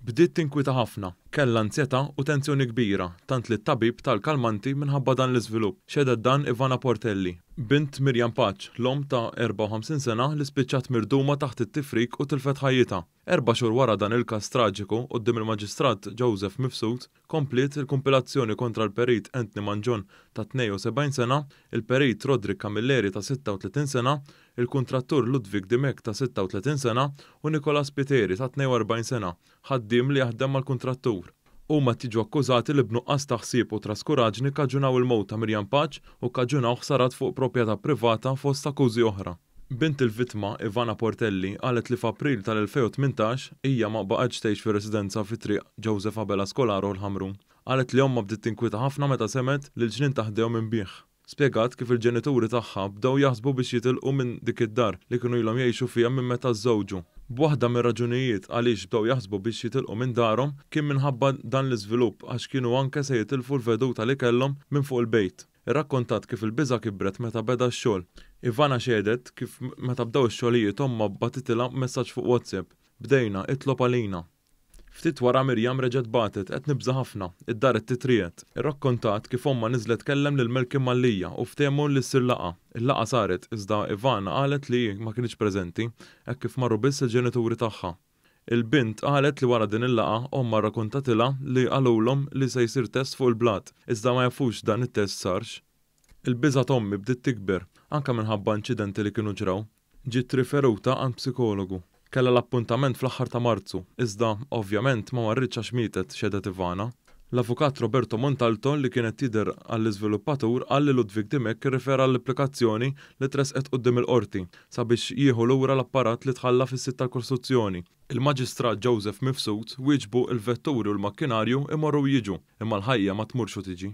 Bdiet tinkwita ħafna. Kellha anzjetà u tensjoni kbira, tant li t-tabib ta l-kalmanti minħabba dan l-iżvilupp, xehdet dan Ivana Portelli, bint Miriam Paċ, l-omm ta' 54 sena li spiċċat mirduma taħt it-tifrik u tilfet ħajjitha. Erba' xhur wara dan il-każ traġiku, quddiem il-Maġistrat Joseph Mifsud, kompliet il-kumpilazzjoni kontra l-Perit Anthony Mangion ta' 72 sena, il-Perit Roderick Camilleri ta' 36 sena, il-kuntrattur Ludwig Dimech ta' 36 sena u Nicola Spiteri ta' 42 sena, ħaddiem li jaħdem mal-kuntrattur. Huma qed jiġu akkużati li b'nuqqas ta' ħsieb u traskuraġni kkaġunaw il-mewt ta' Miriam Paċ u kkaġunaw ħsarat fuq propjetà privata fost akkużi oħra. Bint il-vittma, Ivana Portelli, qalet li f'April tal-2018, hija ma baqgħetx tgħix fir-residenza fi Triq Joseph Abela Scolaro l-Ħamrun. Qalet li ommha bdiet tinkwieta ħafna meta semgħet li l-ġnien ta' ħdejhom inbigħ. Spjegat kif il-ġenituri tagħha bdew jaħsbu biex jitilqu minn dik id-dar li kienu ilhom jgħixu fiha minn meta żżewġu. B'waħda mir-raġunijiet għaliex bdew jaħsbu biex jitilqu minn darhom kien minħabba dan l-iżvilupp għax kienu anke se jitilfu l-veduta li kellhom minn fuq il-bejt. Irrakkontat kif il-biża' kibret meta beda x-xogħol. Ivana xehdet kif meta bdew ix-xogħlijiet ommha bgħatitilha messaġġ fuq WhatsApp, Bdejna, itlob għalina. Ftit wara Miriam reġgħet bagħtet, Qed nibża' ħafna. Id-dar qed titriegħed. Irrakkontat kif ommha niżlet tkellem lil Malcolm Mallia u ftehmu li ssir laqgħa. Il-laqgħa saret, iżda Ivana qalet li hi ma kinitx preżenti, hekk kif marru biss il-ġenituri tagħha. Il-bint qalet li wara din il-laqgħa, ommha rrakuntatilha li qalulhom li se jsir test fuq il-blat, iżda ma jafux dan it-test sarx. Il-biża' t'ommi bdiet tikber, anke minħabba inċidenti li kienu ġraw. Ġiet riferuta għand psikologu. Kellha l-appuntament fl-aħħar ta' Marzu, iżda, ovvjament, ma marritx għax mietet, xehdet Ivana. L-avukat Roberto Montalto, li kien qed jidher għall-iżviluppatur, qal li Ludwig Dimech irrifera l-applikazzjoni li tressqet quddiem il-Qorti sabiex jieħu lura l-apparat li tħalla fis-sit tal-kostruzzjoni. Il-Maġistrat Joseph Mifsud wieġbu l-vetturi u l-makkinarju jmorru u jiġu, imma l-ħajja ma tmurx u tiġi.